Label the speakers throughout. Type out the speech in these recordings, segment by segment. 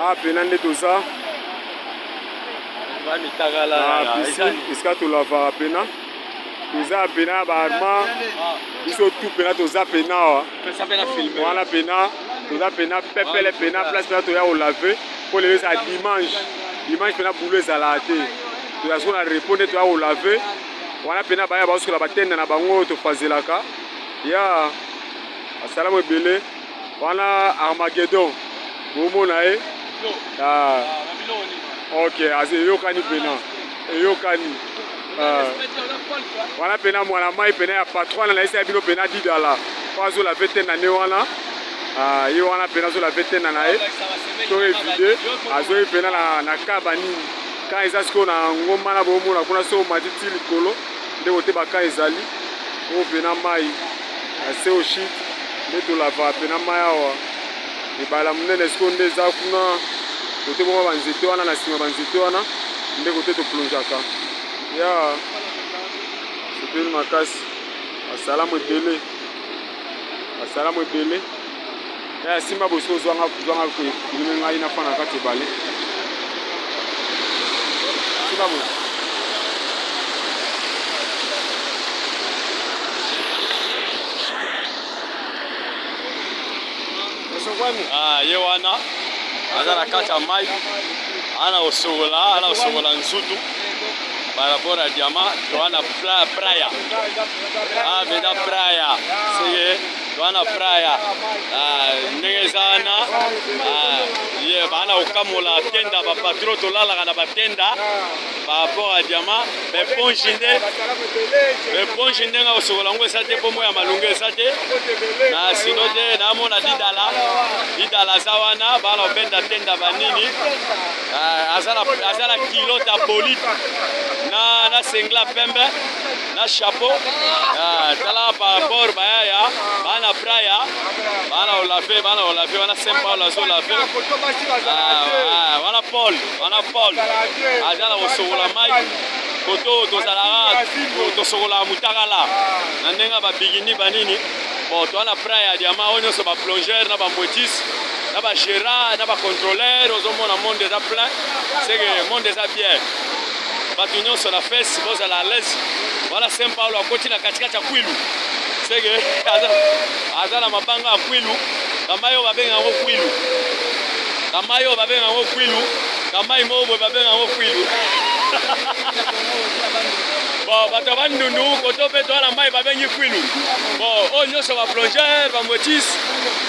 Speaker 1: Ah, pena nde toza esika tolavaka pena toza ya pena ya baarma biso tu pena toza pena awa wana pena toza pena pepele pena place pena toya kolave mpo lelo eza dimanche dimanche pena bulo ezalaka te toza soko na repo nde toya kolave wana pena baya baosokola batenda na bango tofazelaka ya yeah. Assalamu ebele wana Armageddon bomona ye ah. ok eyokani pena eyokani ah. wana pena mwana mai pena ya patro wana nayesa ya bino pena didala po azola vete na ne wana ah, ye wana pena azola vete na na ye to evide azoyi pena na kaba nini kan eza sikoyo na ngomba na bomona kuna so omati ti likolo nde kote bakan ezali oyo pena mai na seo shit nde tolavaka mpe na mai awa ebala monene sikoyo nde eza kuna kote boma banzete wana na nsima banzete wana nde kote toplongeaka ya sepeli makasi basalamu ebele basalamu ebele Eh, simba boso zwanga zwanga ko filme ngai na fana kati bale. Simba boso.
Speaker 2: Ah, ye wana aza na kati ya mai ana kosokola ana kosokola nzutu par rapport ya diama to wana praya ah, beda praya seke wana fraya ah, ndenge eza wana ah, ye baana kokamola tenda bapatro tolalaka na batenda paraport ya diama bepongi nde bepongi ndenge akosokola yango eza te mpo moi ya malonga eza te na sino te namona didala didala aza wana baana kobenda tenda banini ah, aza na kilo tabolite na sengla pembe na chapeau ah, tala par rapport bayaya bana braya bana olafe bana olafe wana saint paul azo olafe ah, ah, wana paul wana paul aza na kosokola mai koto tozalaka tosokolaka mutakala na ndenge ya babigini banini bon toa na pra ya diama oyo nyonso baplongeur na bambotis na bagérard na bacontrôleur ozomona monde eza plein seke monde eza bien bato nyonso na fesi bozala alaise wana saint paulo akoti na katikati ya kwilu seke aza na mabanga ya kwilu kamai oyo babenga yango kwilu kamai oyo babenga yango kwilu kamai moko boye babenga yango kwilu bon bato ya bandundu koto mpe toala mai babengi kwilu bon oyo nyonso baplongeur bamotis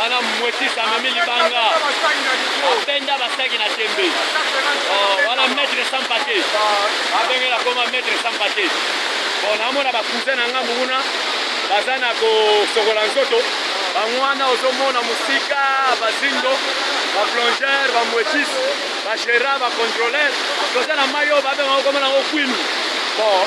Speaker 2: wana mwekisi amemi libanga abenda basaki na tembe oh, wana maître sans pate abenge na koma maître sans pate bon namona bacousin na ngambu kuna baza na kosokola nzoto bango wana ozomona mosika bazindo baplongeur bamwekisi bagera bacontroleur toza na mai oyo babengaka komona yango kwinu bon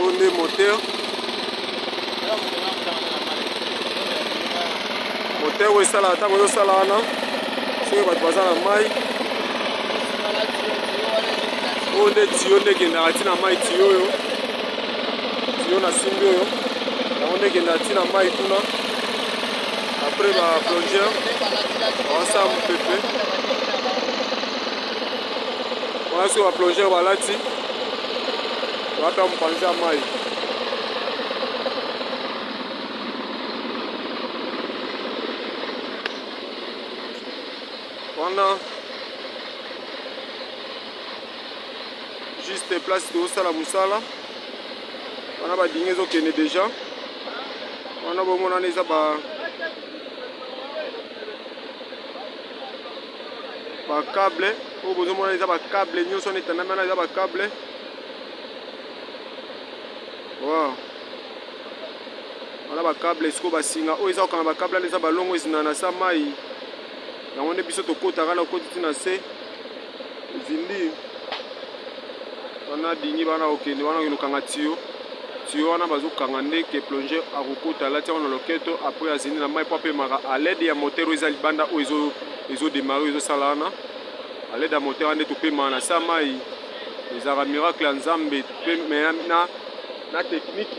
Speaker 1: oyo nde moteur moteur oyo esalaka ntango ezosala wana soki bato baza na mai oyo nde tiyo nde ekendaka ntina mai tiyo oyo tiyo na simbi oyo yango nde ekendaka ntina mai kuna apres ba plongeur awasala mopepe wana soki baplongeur balati baka mopanzi ya mai wana juste place tozosala mosala wana badingi ezokende deja wana bomonana eza ba bakable oyo bozomona eza bakable nyonso wana etandami wana eza bakable wow. wana bakable esiko basinga oyo eza kokanga bakable wana eza balongo ezina na sa mai yango nde biso tokotaka na okoti ti na se ezindi wana dingi bana okende wana okende okanga tiyo Tuyau wana bazo kanga nde que plongeur akokota alati yango na loketo après azindi na mayi po apemaka à l'aide ya moteur oyo eza libanda oyo ezo ezo demarrer ezo sala wana à l'aide ya moteur wana nde topemaka na sa mayi ezalaka miracle ya Nzambe pe mais na na technique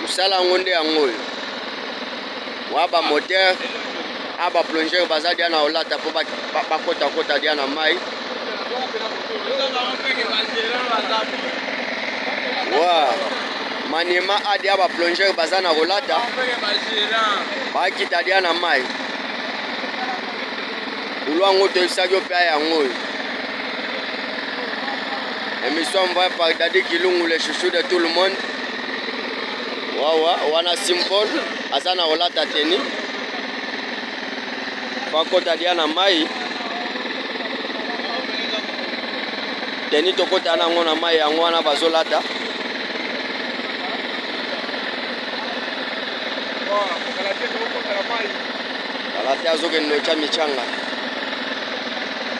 Speaker 2: Mosala yango nde yango oyo wa ba moteur a ba plongeur baza dia na olata mpo bakotakota dia na mai wa maniema a dia ba plongeur baza na kolata bakita dia na mai bulo yango toyebisaki yo mpe a yango oyo emission envoyée par dadi kilungu le chouchou de tout le monde wawa wana simple aza na olata teni bakota dia na mai teni tokota nango na mai yango wana bazolata alati azokende otya micanga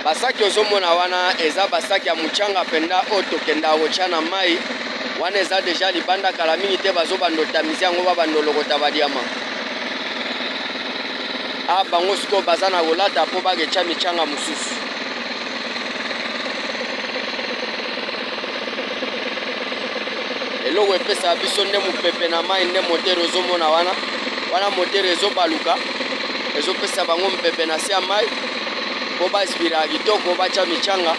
Speaker 2: basaki ozomona wana eza basaki ya mocanga mpenza oyo tokenda kotya na mai wana eza deja libanda kala mingi te bazobanda otamisi yango babanda olokota badiama a ah, bango sikoyo baza na kolata mpo baketya mityanga mosusu eloko epesaka biso nde mopepe na mai nde motere ozomona wana wana motere ezobaluka ezopesa bango mopepe na se ya mai mpo baspiraka kitoko batya mityanga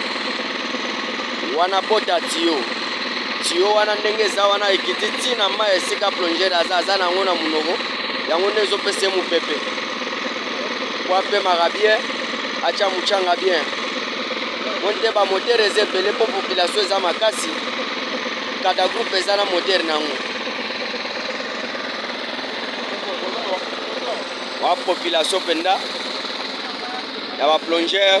Speaker 2: Wana bota tiyo. Tiyo wana ndenge eza wana ekiti ti na mai esika plongere aza aza na yango na monoko yango nde ezopesa ye mopepe po apemaka bien atya motyanga bien po nde bamotere eza ebele mpo population eza makasi kada groupe eza na motere na yango wa population mpenza ya baplongere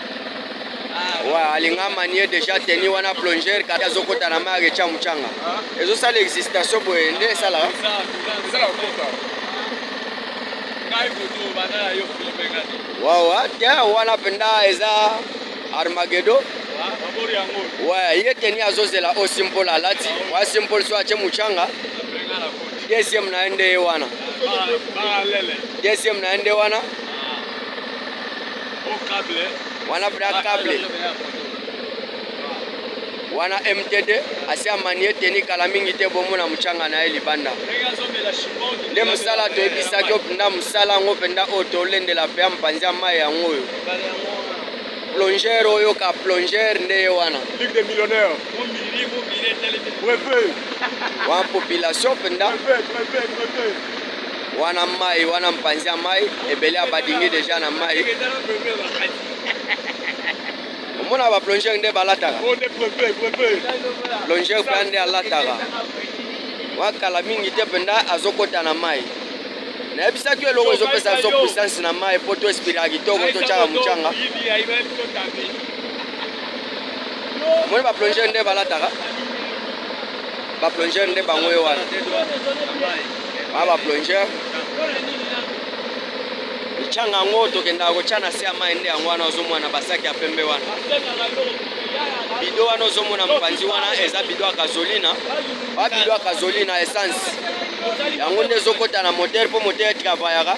Speaker 2: Ouais, alinga manie déjà teni wana plonger kati azokota na mai aketia mucanga ezosala existation boye nde esalaka wawa te wana mpenza eza armagedo ouais ye teni azozela o simple alati wa simple so atie mucanga deuxième na ye nde ye wana deuxième na ye nde wana
Speaker 3: wana bra cable wana mtd asi amanie teni kala mingi te bomona motyanga na ye libanda nde mosala toyebisaki yo mpenza mosala yango mpenza oyo tolendela mpe ya mpanzi ya mai yango oyo plongeur oyo ka plongeur nde ye wana wa population mpenza wana mai wana mpanzi ya mai ebele ya badingi deja na mai omona baplongeur nde balataka oh, plongeur mpe nde alataka wakala mingi te mpenza azokɔta na mai nayebisaki eloko ezopesa biso puissance na mai mpo to espiraka kitoko totyaka motyanga omoni baplongeur nde balataka Ba plongeur nde bango yo wana. Ba ba plongeur. Changa yango tokenda kotya na se ya mai nde yango wana ozomona basaki ya pembe wana bido wana ozomona mopanzi wana eza bido ya kazolina ba bido ya kazolina essence yango nde ezokota na motere mpo motere travayaka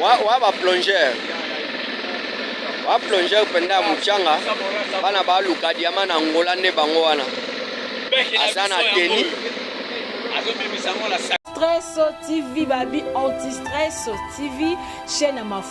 Speaker 3: wa ba plongeur ba plongeur mpenza ya motyanga bana baluka diama na ngola nde bango wana aza na teni
Speaker 4: Stress TV Babi Anti Stress TV chaîne ya mafuta